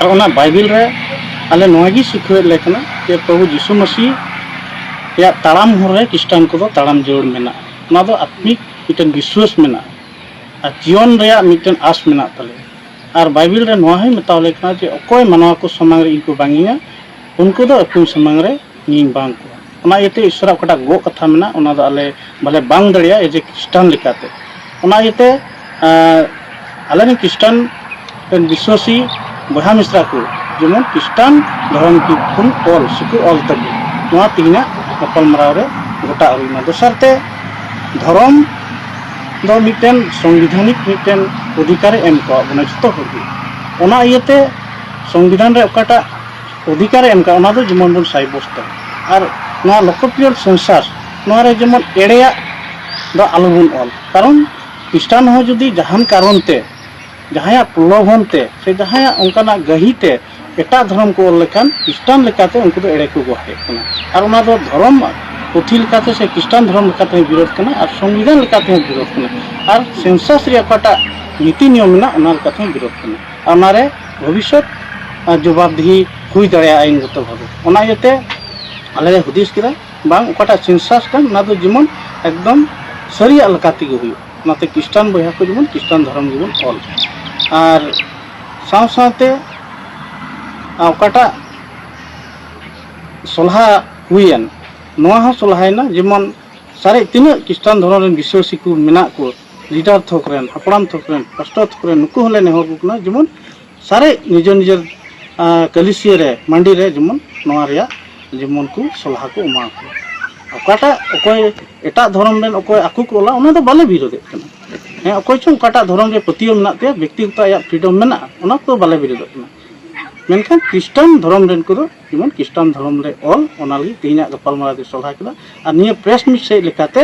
ᱟᱨ ᱚᱱᱟ ᱵᱟᱭᱵᱮᱞ ᱨᱮ ᱟᱞᱮ ᱱᱚᱣᱟ ᱜᱮ ᱥᱤᱠᱷᱟᱹᱣᱮᱫ ᱞᱮ ᱠᱟᱱᱟ ᱡᱮ ᱯᱨᱚᱵᱷᱩ ᱡᱤᱥᱩ ᱢᱟᱹᱥᱤ ᱨᱮᱭᱟᱜ ᱛᱟᱲᱟᱢ ᱦᱚᱨ ᱨᱮ ᱠᱷᱨᱤᱥᱴᱟᱱ ᱠᱚᱫᱚ ᱛᱟᱲᱟᱢ ᱡᱟᱹᱨᱩᱲ ᱢᱮᱱᱟᱜᱼᱟ ᱚᱱᱟ ᱫᱚ ᱟᱛᱢᱤᱠ ᱢᱤᱫᱴᱮᱱ ᱵᱤᱥᱣᱟᱹᱥ ᱢᱮᱱᱟᱜᱼᱟ ᱟᱨ ᱡᱤᱭᱚᱱ ᱨᱮᱭᱟᱜ ᱢᱤᱫᱴᱮᱱ ᱟᱥ ᱢᱮᱱᱟᱜ ᱛᱟᱞᱮᱭᱟ ᱟᱨ ᱵᱟᱭᱵᱮᱞ ᱨᱮ ᱱᱚᱣᱟ ᱦᱚᱸᱭ ᱢᱮᱛᱟᱣ ᱞᱮ ᱠᱟᱱᱟ ᱡᱮ ᱚᱠᱚᱭ ᱢᱟᱱᱣᱟ ᱠᱚ ᱥᱟᱢᱟᱝ ᱨᱮ ᱤᱧ ᱠᱚ ᱵᱟᱝ ᱤᱧᱟ ᱩᱱᱠᱩ ᱫᱚ ᱟᱹᱠᱤᱱ ᱥᱟᱢᱟᱝ ᱨᱮ ᱤᱧ ᱵᱟᱝ ᱠᱚᱣᱟ ᱚᱱᱟ ᱤᱭᱟᱹᱛᱮ ᱤᱥᱚᱨᱟᱜ ᱚᱠᱟᱴᱟᱜ ᱜᱚᱜ ᱠᱟᱛᱷᱟ ᱢᱮᱱᱟᱜ ᱚᱱᱟ ᱫᱚ ᱟᱞᱮ ᱵᱟᱞᱮ ᱵᱟᱝ ᱫᱟᱲᱮᱭᱟᱜᱼᱟ ᱮᱡᱮ ᱠᱷᱨᱤᱥᱴᱟᱱ ᱞᱮᱠᱟᱛᱮ ᱚᱱᱟ ᱤᱭᱟᱹᱛᱮ ᱟᱞᱮ ᱨᱮᱱ ᱠᱷᱨᱤᱥᱴᱟᱱ ᱨᱮᱱ ᱵᱤᱥᱣᱟᱥᱤ ᱵᱚᱭᱦᱟ ᱢᱤᱥᱨᱟ ᱠᱚ ᱡᱮᱢᱚᱱ ᱠᱷᱨᱤᱥᱴᱟᱱ ᱫᱷᱚᱨᱚᱢ ᱠᱷᱚᱱ ᱚᱞ ᱥᱮᱠᱚ ᱚᱞ ᱛᱟᱠᱚ ᱱᱚᱣᱟ ᱛᱮᱦᱮᱧᱟᱜ ᱜᱟᱯᱟᱞᱢᱟᱨᱟᱣ ᱨᱮ ᱜᱚᱴᱟ ᱦᱩᱭᱱᱟ ᱫᱚᱥᱟᱨ ᱛᱮ ᱫᱷᱚᱨᱚᱢ ᱫᱚ ᱢᱤᱫᱴᱮᱱ ᱥᱚᱝᱵᱤᱫᱷᱟᱱᱤᱠ ᱢᱤᱫᱴᱮᱱ ᱚᱫᱷᱤᱠᱟᱨᱮ ᱮᱢ ᱠᱟᱣᱟᱫ ᱵᱚᱱᱟ ᱡᱚᱛᱚ ᱦᱚᱲᱜᱮ ᱚᱱᱟ ᱤᱭᱟᱹᱛᱮ ᱥᱚᱝᱵᱤᱫᱷᱟᱱ ᱨᱮ ᱚᱠᱟᱴᱟᱜ ᱚᱫᱷᱤᱠᱟᱨ ᱮᱢ ᱠᱟᱜ ᱚᱱᱟ ᱫᱚ ᱡᱮᱢᱚᱱ ᱵᱚᱱ ᱥᱟᱭᱵᱚᱥᱛᱚ ᱟᱨ ᱱᱚᱣᱟ ᱞᱚᱠᱚᱯᱤᱭᱚᱨ ᱥᱮᱱᱥᱟᱨ ᱱᱚᱣᱟ ᱨᱮ ᱡᱮᱢᱚᱱ ᱮᱲᱮᱭᱟᱜ ᱫᱚ ᱟᱞᱚ ᱵᱚᱱ ᱚᱞ ᱠᱟᱨᱚᱱ ᱠᱷᱨᱤᱥᱴᱟᱱ ᱦᱚᱸ ᱡᱩᱫᱤ ᱡᱟᱦᱟᱱ ᱠᱟᱨᱚᱱ ᱛᱮ ᱡᱟᱦᱟᱸᱭᱟᱜ ᱯᱨᱚᱞᱳᱵᱷᱚᱱ ᱛᱮ ᱥᱮ ᱡᱟᱦᱟᱸᱭᱟᱜ ᱚᱱᱠᱟᱱᱟᱜ ᱜᱟᱹᱦᱤ ᱛᱮ ᱮᱴᱟᱜ ᱫᱷᱚᱨᱚᱢ ᱠᱚ ᱚᱞ ᱞᱮᱠᱷᱟᱱ ᱠᱷᱨᱤᱥᱴᱟᱱ ᱞᱮᱠᱟᱛᱮ ᱩᱱᱠᱩ ᱫᱚ ᱮᱲᱮ ᱠᱚ ᱜᱚᱦᱚᱲᱮᱫ ᱠᱟᱱᱟ ᱟᱨ ᱚᱱᱟ ᱫᱚ ᱫᱷᱚᱨᱚᱢ ᱯᱩᱛᱷᱤ ᱞᱮᱠᱟᱛᱮ ᱥᱮ ᱠᱷᱨᱤᱥᱴᱟᱱ ᱫᱷᱚᱨᱚᱢ ᱞᱮᱠᱟᱛᱮ ᱦᱚᱸ ᱵᱤᱨᱳᱫᱷ ᱠᱟᱱᱟ ᱟᱨ ᱥᱚᱝᱵᱤᱫᱷᱟᱱ ᱞᱮᱠᱟᱛᱮ ᱦᱚᱸ ᱵᱤᱨᱳᱫᱷ ᱠᱟᱱᱟ ᱟᱨ ᱥᱮᱱᱥᱟᱥ ᱨᱮᱭᱟᱜ ᱚᱠᱟᱴᱟᱜ ᱱᱤᱛᱤ ᱱᱤᱭᱚᱢ ᱢᱮᱱᱟᱜ ᱚᱱᱟ ᱞᱮᱠᱟᱛᱮ ᱦᱚᱸ ᱵᱤᱨᱳᱫᱷ ᱠᱟᱱᱟ ᱟᱨ ᱚᱱᱟ ᱨᱮ ᱵᱷᱚᱵᱤᱥᱚᱛ ᱡᱚᱵᱟᱵᱽᱫᱤᱦᱤ ᱦᱩᱭ ᱫᱟᱲᱮᱭᱟᱜᱼᱟ ᱟᱭᱤᱱᱜᱚᱛᱚ ᱵᱷᱟᱵᱮ ᱚᱱᱟ ᱤᱭᱟᱹᱛᱮ ᱟᱞᱮ ᱞᱮ ᱦᱩᱫᱤᱥ ᱠᱮᱫᱟ ᱵᱟᱝ ᱚᱠᱟᱴᱟᱜ ᱥᱮᱱᱥᱟᱥ ᱠᱟᱱ ᱚᱱᱟ ᱫᱚ ᱡᱮᱢᱚᱱ ᱮᱠᱫᱚᱢ ᱥᱟᱹᱨᱤᱭᱟᱜ ᱞᱮᱠᱟ ᱛᱮᱜᱮ ᱦᱩᱭᱩᱜ ᱚᱱᱟᱛᱮ ᱠᱷᱨᱤᱥᱴᱟᱱ ᱵᱚᱭᱦᱟ ᱠᱚ ᱡᱮᱢᱚᱱ ᱠᱷᱨᱤᱥᱴᱟᱱ ᱫᱷᱚᱨᱚᱢ ᱜᱮᱵᱚᱱ ᱚᱞ ᱟᱨ ᱥᱟᱶ ᱥᱟᱶᱛᱮ ᱚᱠᱟᱴᱟᱜ ᱥᱚᱞᱦᱟ ᱦᱩᱭᱮᱱ ᱱᱚᱣᱟ ᱦᱚᱸ ᱥᱚᱞᱦᱟᱭᱮᱱᱟ ᱡᱮᱢᱚᱱ ᱥᱟᱨᱮᱡ ᱛᱤᱱᱟᱹᱜ ᱠᱷᱨᱤᱥᱴᱟᱱ ᱫᱷᱚᱨᱚᱢ ᱨᱮᱱ ᱵᱤᱥᱥᱟᱹᱥᱤ ᱠᱚ ᱢᱮᱱᱟᱜ ᱠᱚ ᱞᱤᱰᱟᱨ ᱛᱷᱚᱠ ᱨᱮᱱ ᱦᱟᱯᱲᱟᱢ ᱛᱷᱚᱠ ᱨᱮᱱ ᱯᱟᱥᱴᱚᱨ ᱛᱷᱚᱠ ᱨᱮᱱ ᱱᱩᱠᱩ ᱦᱚᱸᱞᱮ ᱱᱮᱦᱚᱨ ᱟᱠᱚ ᱠᱟᱱᱟ ᱡᱮᱢᱚᱱ ᱥᱟᱨᱮᱡ ᱱᱤᱡᱮᱨ ᱱᱤᱡᱮᱨ ᱠᱟᱹᱞᱤᱥᱤᱭᱟᱹ ᱨᱮ ᱢᱟᱹᱰᱤ ᱨᱮ ᱡᱮᱢᱚᱱ ᱱᱚᱣᱟ ᱨᱮᱭᱟᱜ ᱡᱮᱢᱚᱱ ᱠᱚ ᱥᱚᱞᱦᱟ ᱠᱚ ᱮᱢᱟ ᱠᱚ ᱚᱠᱟᱴᱟᱜ ᱚᱠᱚᱭ ᱮᱴᱟᱜ ᱫᱷᱚᱨᱚᱢ ᱨᱮᱱ ᱚᱠᱚᱭ ᱟᱠᱚ ᱠᱚ ᱚᱞᱟ ᱚᱱᱟ ᱫᱚ ᱵᱟᱞᱮ ᱵᱤᱨᱳᱫᱮᱫ ᱠᱟᱱᱟ ᱦᱮᱸ ᱚᱠᱚᱭ ᱪᱚᱝ ᱚᱠᱟᱴᱟᱜ ᱫᱷᱚᱨᱚᱢ ᱨᱮ ᱯᱟᱹᱛᱭᱟᱹᱣ ᱢᱮᱱᱟᱜ ᱛᱟᱭᱟ ᱵᱮᱠᱛᱤᱜᱚᱛᱚ ᱟᱭᱟᱜ ᱯᱷᱨᱤᱰᱚᱢ ᱢᱮᱱᱟᱜᱼᱟ ᱚᱱᱟ ᱠᱚᱫᱚ ᱵᱟᱞᱮ ᱵᱤᱨᱳᱫᱮᱫ ᱠᱟᱱᱟ ᱢᱮᱱᱠᱷᱟᱱ ᱠᱷᱨᱤᱥᱴᱟᱱ ᱫᱷᱚᱨᱚᱢ ᱨᱮᱱ ᱠᱚᱫᱚ ᱡᱮᱢᱚᱱ ᱠᱷᱨᱤᱥᱴᱟᱱ ᱫᱷᱚᱨᱚᱢ ᱨᱮ ᱚᱞ ᱚᱱᱟ ᱞᱟᱹᱜᱤᱫ ᱛᱮᱦᱮᱧᱟᱜ ᱜᱟᱯᱟᱞᱢᱟᱨᱟᱣ ᱫᱚ ᱥᱚᱞᱦᱟ ᱠᱮᱫᱟ ᱟᱨ ᱱᱤᱭᱟᱹ ᱯᱨᱮᱥ ᱢᱤᱴ ᱥᱮᱫ ᱞᱮᱠᱟᱛᱮ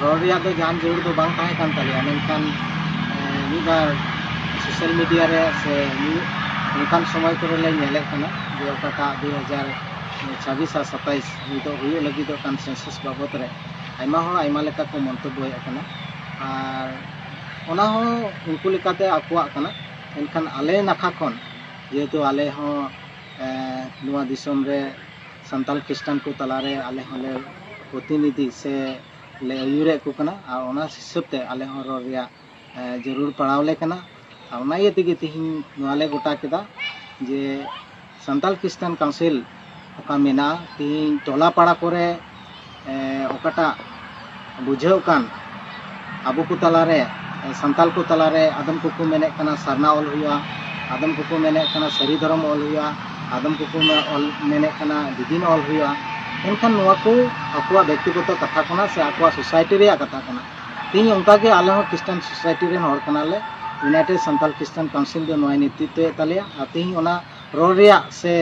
ᱨᱚᱲ ᱨᱮᱭᱟᱜ ᱫᱚ ᱡᱟᱦᱟᱱ ᱡᱟᱹᱨᱩᱲ ᱫᱚ ᱵᱟᱝ ᱛᱟᱦᱮᱸ ᱠᱟᱱ ᱛᱟᱞᱮᱭᱟ ᱢᱮᱱᱠᱷᱟᱱ ᱢᱤᱫ ᱵᱟᱨ ᱥᱳᱥᱟᱞ ᱢᱤᱰᱤᱭᱟ ᱨᱮ ᱥᱮ ᱢᱤᱫ ᱚᱱᱠᱟᱱ ᱥᱚᱢᱚᱭ ᱠᱚᱨᱮ ᱞᱮ ᱧᱮᱞᱮᱫ ᱠᱟᱱᱟ ᱡᱮ ᱚᱠᱟᱴᱟᱜ ᱫᱩ ᱦᱟᱡᱟᱨ ᱪᱷᱟᱵᱵᱤᱥ ᱟᱨ ᱥᱟᱛᱟᱭᱤᱥ ᱱᱤᱛᱚᱜ ᱦᱩᱭᱩᱜ ᱞᱟᱹᱜᱤᱫᱚᱜ ᱠᱟᱱ ᱥᱮᱱᱥᱟᱥ ᱵᱟᱵᱚᱫ ᱨᱮ ᱟᱭᱢᱟ ᱦᱚᱲ ᱟᱭᱢᱟ ᱞᱮᱠᱟ ᱠᱚ ᱢᱚᱱᱛᱚᱵᱵᱚᱭᱮᱫ ᱠᱟᱱᱟ ᱟᱨ ᱚᱱᱟ ᱦᱚᱸ ᱩᱱᱠᱩ ᱞᱮᱠᱟᱛᱮ ᱟᱠᱚᱣᱟᱜ ᱠᱟᱱᱟ ᱢᱮᱱᱠᱷᱟᱱ ᱟᱞᱮ ᱱᱟᱠᱷᱟ ᱠᱷᱚᱱ ᱡᱮᱦᱮᱛᱩ ᱟᱞᱮ ᱦᱚᱸ ᱱᱚᱣᱟ ᱫᱤᱥᱚᱢ ᱨᱮ ᱥᱟᱱᱛᱟᱞ ᱠᱷᱨᱤᱥᱴᱟᱱ ᱠᱚ ᱛᱟᱞᱟ ᱨᱮ ᱟᱞᱮ ᱦᱚᱸ ᱞᱮ ᱯᱨᱚᱛᱤᱱᱤᱫᱷᱤ ᱥᱮ ᱞᱮ ᱟᱹᱭᱩᱨᱮᱫ ᱠᱚ ᱠᱟᱱᱟ ᱟᱨ ᱚᱱᱟ ᱦᱤᱥᱟᱹᱵ ᱛᱮ ᱟᱞᱮ ᱦᱚᱸ ᱨᱚᱲ ᱨᱮᱭᱟᱜ ᱡᱟᱹᱨᱩᱲ ᱯᱟᱲᱟᱣ ᱞᱮ ᱠᱟᱱᱟ ᱟᱨ ᱚᱱᱟ ᱤᱭᱟᱹ ᱛᱮᱜᱮ ᱛᱮᱦᱮᱧ ᱱᱚᱣᱟ ᱞᱮ ᱜᱚᱴᱟ ᱠᱮᱫᱟ ᱡᱮ ᱥᱟᱱᱛᱟᱞ ᱠᱷᱨᱤᱥᱴᱟᱱ ᱠᱟᱣᱩᱱᱥᱤᱞ ᱚᱠᱟ ᱢᱮᱱᱟᱜᱼᱟ ᱛᱮᱦᱮᱧ ᱴᱚᱞᱟ ᱯᱟᱲᱟ ᱠᱚᱨᱮ ᱚᱠᱟᱴᱟᱜ ᱵᱩᱡᱷᱟᱹᱣ ᱠᱟᱱ ᱟᱵᱚ ᱠᱚ ᱛᱟᱞᱟᱨᱮ ᱥᱟᱱᱛᱟᱞ ᱠᱚ ᱛᱟᱞᱟᱨᱮ ᱟᱫᱚᱢ ᱠᱚᱠᱚ ᱢᱮᱱᱮᱫ ᱠᱟᱱᱟ ᱥᱟᱨᱱᱟ ᱚᱞ ᱦᱩᱭᱩᱜᱼᱟ ᱟᱫᱚᱢ ᱠᱚᱠᱚ ᱢᱮᱱᱮᱫ ᱠᱟᱱᱟ ᱥᱟᱹᱨᱤ ᱫᱷᱚᱨᱚᱢ ᱚᱞ ᱦᱩᱭᱩᱜᱼᱟ ᱟᱫᱚᱢ ᱠᱚᱠᱚ ᱚᱞ ᱢᱮᱱᱮᱫ ᱠᱟᱱᱟ ᱫᱤᱫᱤᱢ ᱚᱞ ᱦᱩᱭᱩᱜᱼᱟ ᱮᱱᱠᱷᱟᱱ ᱱᱚᱣᱟ ᱠᱚ ᱟᱠᱚᱣᱟᱜ ᱵᱮᱠᱛᱤᱜᱚᱛᱚ ᱠᱟᱛᱷᱟ ᱠᱟᱱᱟ ᱥᱮ ᱟᱠᱚᱣᱟᱜ ᱥᱳᱥᱟᱭᱴᱤ ᱨᱮᱭᱟᱜ ᱠᱟᱛᱷᱟ ᱠᱟᱱᱟ ᱛᱮᱦᱮᱧ ᱚᱱᱠᱟᱜᱮ ᱟᱞᱮ ᱦᱚᱸ ᱠᱷᱨᱤᱥᱴᱟᱱ ᱥᱳᱥᱟᱭᱴᱤ ᱨᱮᱱ ᱦᱚᱲ ᱠᱟᱱᱟᱞᱮ ᱤᱭᱩᱱᱟᱭᱴᱮᱰ ᱥᱟᱱᱛᱟᱞ ᱠᱷᱨᱤᱥᱴᱟᱱ ᱠᱟᱣᱩᱱᱥᱤᱞ ᱫᱚ ᱱᱚᱣᱟᱭ ᱱᱮᱛᱨᱤᱛᱛᱚᱭᱮᱫ ᱛᱟᱞᱮᱭᱟ ᱟᱨ ᱛᱮᱦᱮᱧ ᱚᱱᱟ ᱨᱚᱲ ᱨᱮᱭᱟᱜ ᱥᱮ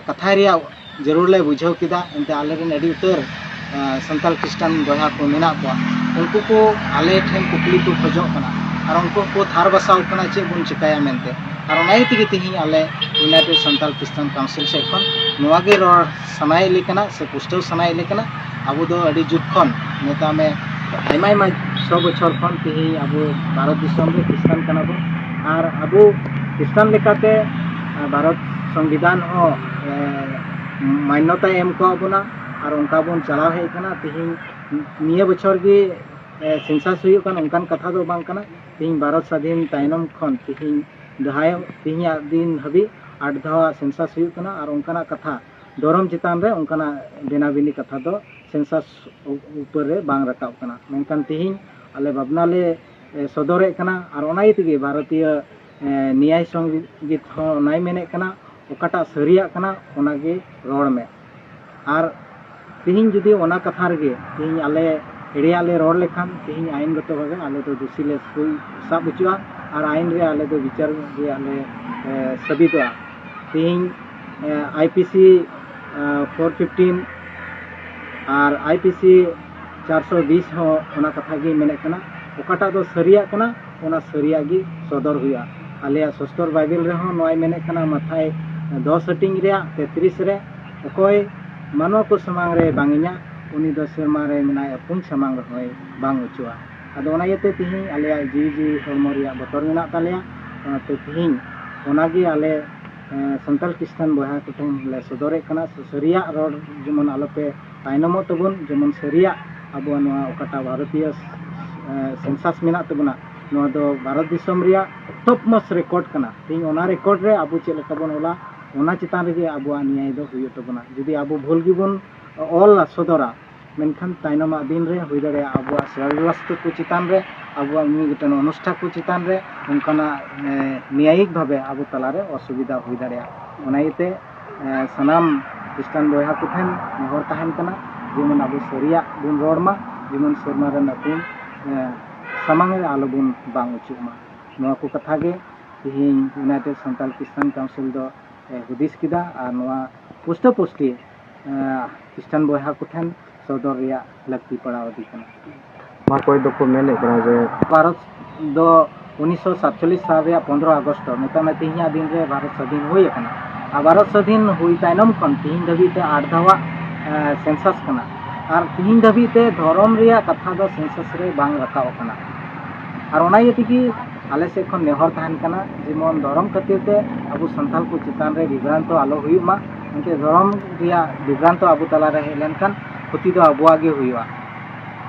ᱠᱟᱛᱷᱟᱭ ᱨᱮᱭᱟᱜ ᱡᱟᱹᱨᱩᱲ ᱞᱮ ᱵᱩᱡᱷᱟᱹᱣ ᱠᱮᱫᱟ ᱮᱱᱛᱮ ᱟᱞᱮ ᱨᱮᱱ ᱟᱹᱰᱤ ᱩᱛᱟᱹᱨ ᱥᱟᱱᱛᱟᱲ ᱠᱷᱨᱤᱥᱴᱟᱱ ᱵᱚᱭᱦᱟ ᱠᱚ ᱢᱮᱱᱟᱜ ᱠᱚᱣᱟ ᱩᱱᱠᱩ ᱠᱚ ᱟᱞᱮ ᱴᱷᱮᱱ ᱠᱩᱠᱞᱤ ᱠᱚ ᱠᱷᱚᱡᱚᱜ ᱠᱟᱱᱟ ᱟᱨ ᱩᱱᱠᱩ ᱠᱚ ᱛᱷᱟᱨ ᱵᱟᱥᱟᱣ ᱠᱟᱱᱟ ᱪᱮᱫ ᱵᱚᱱ ᱪᱤᱠᱟᱹᱭᱟ ᱢᱮᱱᱛᱮ ᱟᱨ ᱚᱱᱟ ᱤᱭᱟᱹ ᱛᱮᱜᱮ ᱛᱮᱦᱮᱧ ᱟᱞᱮ ᱤᱭᱩᱱᱟᱭᱴᱮᱰ ᱥᱟᱱᱛᱟᱲ ᱠᱷᱨᱤᱥᱴᱟᱱ ᱠᱟᱣᱩᱱᱥᱤᱞ ᱥᱮᱫ ᱠᱷᱚᱱ ᱱᱚᱣᱟ ᱜᱮ ᱨᱚᱲ ᱥᱟᱱᱟᱭᱮᱫ ᱞᱮ ᱠᱟᱱᱟ ᱥᱮ ᱯᱩᱥᱴᱟᱹᱣ ᱥᱟᱱᱟᱭᱮᱫ ᱞᱮ ᱠᱟᱱᱟ ᱟᱵᱚ ᱫᱚ ᱟᱹᱰᱤ ᱡᱩᱜᱽ ᱠᱷᱚᱱ ᱢᱮᱛᱟᱜ ᱢᱮ ᱟᱭᱢᱟ ᱟᱭᱢᱟ ᱥᱚ ᱵᱚᱪᱷᱚᱨ ᱠᱷᱚᱱ ᱛᱮᱦᱮᱧ ᱟᱵᱚ ᱵᱷᱟᱨᱚᱛ ᱫᱤᱥᱚᱢ ᱨᱮ ᱠᱷᱨᱤᱥᱴᱟᱱ ᱠᱟᱱᱟ ᱵᱚᱱ ᱟᱨ ᱟᱵᱚ ᱠᱷᱨᱤᱥᱴᱟᱱ ᱞᱮᱠᱟᱛᱮ ᱵᱷᱟᱨᱚᱛ ᱥᱚᱝᱵᱤᱫᱷᱟᱱ ᱦᱚᱸ ᱢᱟᱱᱱᱚᱛᱟᱭ ᱮᱢ ᱠᱟᱣᱟᱫ ᱵᱚᱱᱟ ᱟᱨ ᱚᱱᱠᱟ ᱵᱚᱱ ᱪᱟᱞᱟᱣ ᱦᱮᱡ ᱠᱟᱱᱟ ᱛᱮᱦᱮᱧ ᱱᱤᱭᱟᱹ ᱵᱚᱪᱷᱚᱨ ᱜᱮ ᱥᱮᱱᱥᱟᱥ ᱦᱩᱭᱩᱜ ᱠᱟᱱᱟ ᱚᱱᱠᱟᱱ ᱠᱟᱛᱷᱟ ᱫᱚ ᱵᱟᱝ ᱠᱟᱱᱟ ᱛᱮᱦᱮᱧ ᱵᱷᱟᱨᱚᱛ ᱥᱟᱹᱫᱷᱤᱱ ᱛᱟᱭᱱᱚᱢ ᱠᱷᱚᱱ ᱛᱮᱦᱮᱧ ᱡᱟᱦᱟᱸᱭ ᱛᱮᱦᱮᱧᱟᱜ ᱫᱤᱱ ᱦᱟᱹᱵᱤᱡ ᱟᱴ ᱫᱷᱟᱣᱟᱜ ᱥᱮᱱᱥᱟᱥ ᱦᱩᱭᱩᱜ ᱠᱟᱱᱟ ᱟᱨ ᱚᱱᱠᱟᱱᱟᱜ ᱠᱟᱛᱷᱟ ᱫᱷᱚᱨᱚᱢ ᱪᱮᱛᱟᱱ ᱨᱮ ᱚᱱᱠᱟᱱᱟᱜ ᱵᱮᱱᱟ ᱵᱤᱱᱤ ᱠᱟᱛᱷᱟ ᱫᱚ ᱥᱮᱱᱥᱟᱥ ᱩᱯᱚᱨ ᱨᱮ ᱵᱟᱝ ᱨᱟᱠᱟᱵ ᱠᱟᱱᱟ ᱢᱮᱱᱠᱷᱟᱱ ᱛᱮᱦᱮᱧ ᱟᱞᱮ ᱵᱷᱟᱵᱽᱱᱟ ᱞᱮ ᱥᱚᱫᱚᱨᱮᱫ ᱠᱟᱱᱟ ᱟᱨ ᱚᱱᱟ ᱤᱭᱟᱹ ᱛᱮᱜᱮ ᱵᱷᱟᱨᱚᱛᱤᱭᱚ ᱱᱮᱭᱟᱭ ᱥᱚᱝᱜᱤᱛ ᱦᱚᱸ ᱚᱱᱟᱭ ᱢᱮᱱᱮᱫ ᱠᱟᱱᱟ ᱚᱠᱟᱴᱟᱜ ᱥᱟᱹᱨᱤᱭᱟᱜ ᱠᱟᱱᱟ ᱚᱱᱟᱜᱮ ᱨᱚᱲ ᱢᱮ ᱟᱨ ᱛᱤᱦᱤᱧ ᱡᱩᱫᱤ ᱚᱱᱟ ᱠᱟᱛᱷᱟ ᱨᱮᱜᱮ ᱛᱤᱦᱤᱧ ᱟᱞᱮ ᱮᱲᱮᱭᱟᱜ ᱞᱮ ᱨᱚᱲ ᱞᱮᱠᱷᱟᱱ ᱛᱤᱦᱤᱧ ᱟᱭᱤᱱ ᱜᱚᱛᱚ ᱵᱷᱟᱵᱮ ᱟᱞᱮ ᱫᱚ ᱫᱩᱥᱤ ᱞᱮ ᱥᱟᱵ ᱦᱚᱪᱚᱜᱼᱟ ᱟᱨ ᱟᱭᱤᱱ ᱨᱮ ᱟᱞᱮ ᱫᱚ ᱵᱤᱪᱟᱨ ᱨᱮᱭᱟᱜ ᱞᱮ ᱥᱟᱹᱵᱤᱫᱚᱜᱼᱟ ᱛᱤᱦᱤᱧ I P C four fifteen ᱟᱨ ᱟᱭ ᱯᱤ ᱥᱤ ᱪᱟᱨᱥᱚ ᱵᱤᱥ ᱦᱚᱸ ᱚᱱᱟ ᱠᱟᱛᱷᱟ ᱜᱮ ᱢᱮᱱᱮᱫ ᱠᱟᱱᱟ ᱚᱠᱟᱴᱟᱜ ᱫᱚ ᱥᱟᱹᱨᱤᱭᱟᱜ ᱠᱟᱱᱟ ᱚᱱᱟ ᱥᱟᱹᱨᱤᱭᱟᱜ ᱜᱮ ᱥᱚᱫᱚᱨ ᱦᱩᱭᱩᱜᱼᱟ ᱟᱞᱮᱭᱟᱜ ᱥᱚᱥᱛᱚᱨ ᱵᱟᱭᱵᱮᱞ ᱨᱮᱦᱚᱸ ᱱᱚᱣᱟᱭ ᱢᱮᱱᱮᱫ ᱠᱟᱱᱟ ᱢᱟᱛᱷᱟᱭ ᱫᱚᱥ ᱦᱟᱹᱴᱤᱧ ᱨᱮᱭᱟᱜ ᱛᱮᱛᱨᱤᱥ ᱨᱮ ᱚᱠᱚᱭ ᱢᱟᱱᱣᱟ ᱠᱚ ᱥᱟᱢᱟᱝ ᱨᱮ ᱵᱟᱝ ᱤᱧᱟᱹᱜ ᱩᱱᱤ ᱫᱚ ᱥᱮᱨᱢᱟ ᱨᱮ ᱢᱮᱱᱟᱭ ᱟᱹᱯᱩᱧ ᱥᱟᱢᱟᱝ ᱨᱮᱦᱚᱸᱭ ᱵᱟᱝ ᱚᱪᱚᱜᱼᱟ ᱟᱫᱚ ᱚᱱᱟ ᱤᱭᱟᱹᱛᱮ ᱛᱤᱦᱤᱧ ᱟᱞᱮᱭᱟᱜ ᱡᱤᱣᱤ ᱡᱤᱣᱤ ᱦᱚᱲᱢᱚ ᱨᱮᱭᱟᱜ ᱵᱚᱛᱚᱨ ᱢᱮᱱᱟᱜ ᱛᱟᱞᱮᱭᱟ ᱚᱱᱟᱛᱮ ᱛᱤᱦᱤᱧ ᱚᱱᱟᱜᱮ ᱟᱞᱮ ᱥᱟᱱᱛᱟᱲ ᱠᱷᱨᱤᱥᱴᱟᱱ ᱵᱚᱭᱦᱟ ᱠᱚᱴᱷᱮᱱ ᱞᱮ ᱥᱚᱫᱚᱨᱮᱫ ᱠᱟᱱᱟ ᱥᱮ ᱥᱟᱹᱨᱤᱭᱟᱜ ᱨᱚᱲ ᱡᱮᱢᱚᱱ ᱟᱞᱚᱯᱮ ᱛᱟᱭᱱᱚᱢᱚᱜ ᱛᱟᱵᱚᱱ ᱡᱮᱢᱚᱱ ᱥᱟᱹᱨᱤᱭᱟᱜ ᱟᱵᱚᱣᱟᱜ ᱱᱚᱣᱟ ᱚᱠᱟᱴᱟᱜ ᱵᱷᱟᱨᱚᱛᱤᱭᱚ ᱥᱮᱱᱥᱟᱥ ᱢᱮᱱᱟᱜ ᱛᱟᱵᱚᱱᱟ ᱱᱚᱣᱟ ᱫᱚ ᱵᱷᱟᱨᱚᱛ ᱫᱤᱥᱚᱢ ᱨᱮᱭᱟᱜ ᱴᱚᱯ ᱢᱚᱥ ᱨᱮᱠᱚᱨᱰ ᱠᱟᱱᱟ ᱛᱮᱦᱮᱧ ᱚᱱᱟ ᱨᱮᱠᱚᱨᱰ ᱨᱮ ᱟᱵᱚ ᱪᱮᱫ ᱞᱮᱠᱟ ᱵᱚᱱ ᱚᱞᱟ ᱚᱱᱟ ᱪᱮᱛᱟᱱ ᱨᱮᱜᱮ ᱟᱵᱚᱣᱟᱜ ᱱᱤᱭᱟᱭ ᱫᱚ ᱦᱩᱭᱩᱜ ᱛᱟᱵᱚᱱᱟ ᱡᱩᱫᱤ ᱟᱵᱚ ᱵᱷᱩᱞ ᱜᱮᱵᱚᱱ ᱚᱞᱟ ᱥᱚᱫᱚᱨᱟ ᱢᱮᱱᱠᱷᱟᱱ ᱛᱟᱭᱱᱚᱢᱟᱜ ᱫᱤᱱ ᱨᱮ ᱦᱩᱭ ᱫᱟᱲᱮᱭᱟᱜᱼᱟ ᱟᱵᱚᱣᱟᱜ ᱥᱮᱨᱣᱟ ᱵᱮᱵᱚᱥᱛᱟ ᱠᱚ ᱪᱮᱛᱟᱱ ᱨᱮ ᱟᱵᱚᱣᱟᱜ ᱢᱤᱫ ᱜᱚᱴᱟᱝ ᱚᱱᱩᱥᱴᱷᱟᱱ ᱠᱚ ᱪᱮᱛᱟᱱ ᱨᱮ ᱚᱱᱠᱟᱱᱟᱜ ᱱᱮᱭᱟᱭᱤᱠ ᱵᱷᱟᱵᱮ ᱟᱵᱚ ᱛᱟᱞᱟᱨᱮ ᱚᱥᱩᱵᱤᱫᱷᱟ ᱦᱩᱭ ᱫᱟᱲᱮᱭᱟᱜᱼᱟ ᱚᱱᱟ ᱤᱭᱟᱹᱛᱮ ᱥᱟᱱᱟᱢ ᱠᱷᱨᱤᱥᱴᱟᱱ ᱵᱚᱭᱦᱟ ᱠᱚ ᱴᱷᱮᱱ ᱱᱮᱦᱚᱨ ᱛᱟᱦᱮᱱ ᱠᱟᱱᱟ ᱡᱮᱢᱚᱱ ᱟᱵᱚ ᱥᱟᱹᱨᱤᱭᱟᱜ ᱵᱚᱱ ᱨᱚᱲ ᱢᱟ ᱡᱮᱢᱚᱱ ᱥᱮᱨᱢᱟ ᱨᱮ ᱧᱩᱛᱩᱢ ᱥᱟᱢᱟᱝ ᱨᱮ ᱟᱞᱚ ᱵᱚᱱ ᱵᱟᱝ ᱦᱚᱪᱚᱜ ᱢᱟ ᱱᱚᱣᱟ ᱠᱚ ᱠᱟᱛᱷᱟ ᱜᱮ ᱛᱮᱦᱮᱧ ᱤᱭᱩᱱᱟᱭᱴᱮᱰ ᱥᱟᱱᱛᱟᱞ ᱠᱨᱤᱥᱴᱟᱱ ᱠᱟᱣᱩᱱᱥᱤᱞ ᱫᱚ ᱦᱩᱫᱤᱥ ᱠᱮᱫᱟ ᱟᱨ ᱱᱚᱣᱟ ᱯᱩᱥᱴᱟᱹ ᱯᱩᱥᱴᱤ ᱠᱷᱨᱤᱥᱴᱟᱱ ᱵᱚᱭᱦᱟ ᱠᱚᱴᱷᱮᱱ ᱥᱚᱫᱚᱨ ᱨᱮᱭᱟᱜ ᱞᱟᱹᱠᱛᱤ ᱯᱟᱲᱟᱣ ᱟᱫᱮ ᱠᱟᱱᱟ᱾ ᱱᱚᱣᱟ ᱠᱚᱭ ᱫᱚᱠᱚ ᱢᱮᱱᱮᱫ ᱠᱟᱱᱟ ᱡᱮ᱾ ᱵᱷᱟᱨᱚᱛ ᱫᱚ ᱩᱱᱤᱥᱥᱚ ᱥᱟᱛᱪᱚᱞᱞᱤᱥ ᱥᱟᱞ ᱨᱮᱭᱟᱜ ᱯᱚᱱᱫᱽᱨᱚ ᱟᱜᱚᱥᱴ ᱫᱚ ᱢᱮᱛᱟᱜ ᱢᱮ ᱛᱮᱦᱮᱧᱟᱜ ᱫᱤᱱ ᱨᱮ ᱵᱷᱟᱨᱚᱛ ᱥᱟᱹᱫᱷᱤᱱ ᱦᱩᱭ ᱟᱠᱟᱱᱟ᱾ ᱟᱨ ᱵᱷᱟᱨᱚᱛ ᱥᱟᱹᱫᱷᱤᱱ ᱦᱩᱭ ᱛᱟᱭᱱᱚᱢ ᱠᱷᱚᱱ ᱛᱮᱦᱮᱧ ᱫᱷᱟᱹᱵᱤᱡ ᱛᱮ ᱟᱴ ᱫᱷᱟᱣᱟᱜ ᱥᱮᱱᱥᱟᱥ ᱠᱟᱱᱟ᱾ ᱟᱨ ᱛᱮᱦᱮᱧ ᱫᱷᱟᱹᱵᱤᱡ ᱛᱮ ᱫᱷᱚᱨᱚᱢ ᱨᱮᱭᱟᱜ ᱠᱟᱛᱷᱟ ᱫᱚ ᱥᱮᱱᱥᱟᱥ ᱨᱮ ᱵᱟᱝ ᱨᱟᱠᱟᱵ ᱟᱠᱟᱱᱟ᱾ ᱟᱨ ᱚᱱᱟ ᱤᱭᱟᱹ ᱛᱮᱜᱮ ᱟᱞᱮ ᱥᱮᱫ ᱠᱷᱚᱱ ᱱᱮᱦᱚᱨ ᱛᱟᱦᱮᱱ ᱠᱟᱱᱟ ᱡᱮᱢᱚᱱ ᱫᱷᱚᱨᱚᱢ ᱠᱷᱟᱹᱛᱤᱨ ᱛᱮ ᱟᱵᱚ ᱥᱟᱱᱛᱟᱲ ᱠᱚ ᱪᱮᱛᱟᱱ ᱨᱮ ᱵᱤᱵᱷᱨᱟᱱᱛᱚ ᱟᱞᱚ ᱦᱩᱭᱩᱜ ᱢᱟ᱾ ᱮᱱᱛᱮ ᱫᱷᱚᱨᱚᱢ ᱨᱮᱭᱟᱜ ᱵᱤᱵᱷᱨᱟᱱᱛᱚ ᱟᱵᱚ ᱛᱟᱞᱟᱨᱮ ᱦᱮᱡ ᱞᱮᱱᱠᱷᱟᱱ ᱠᱷᱚᱛᱤ ᱫᱚ ᱟᱵᱚᱣᱟᱜ ᱜᱮ ᱦᱩᱭᱩᱜᱼᱟ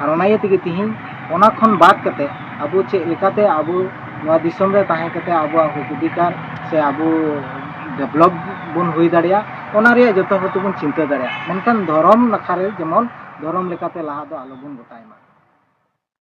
ᱟᱨ ᱚᱱᱟ ᱤᱭᱟᱹ ᱛᱮᱜᱮ ᱛᱤᱦᱤᱧ ᱚᱱᱟ ᱠᱷᱚᱱ ᱵᱟᱫ ᱠᱟᱛᱮ ᱟᱵᱚ ᱪᱮᱫ ᱞᱮᱠᱟᱛᱮ ᱟᱵᱚ ᱱᱚᱣᱟ ᱫᱤᱥᱚᱢ ᱨᱮ ᱛᱟᱦᱮᱸ ᱠᱟᱛᱮ ᱟᱵᱚᱣᱟᱜ ᱦᱚᱸᱠ ᱚᱫᱷᱤᱠᱟᱨ ᱥᱮ ᱟᱵᱚ ᱰᱮᱵᱷᱞᱚᱯ ᱵᱚᱱ ᱦᱩᱭ ᱫᱟᱲᱮᱭᱟᱜ ᱚᱱᱟ ᱨᱮᱭᱟᱜ ᱡᱚᱛᱚ ᱦᱚᱲ ᱛᱮᱵᱚᱱ ᱪᱤᱱᱛᱟᱹ ᱫᱟᱲᱮᱭᱟᱜ ᱢᱮᱱᱠᱷᱟᱱ ᱫᱷᱚᱨᱚᱢ ᱱᱟᱠᱷᱟ ᱨᱮ ᱡᱮᱢᱚᱱ ᱫᱷᱚᱨᱚᱢ ᱞᱮᱠᱟᱛᱮ ᱞᱟᱦᱟ ᱫᱚ ᱟᱞᱚ ᱵᱚᱱ ᱜᱚᱴᱟᱭ ᱢᱟ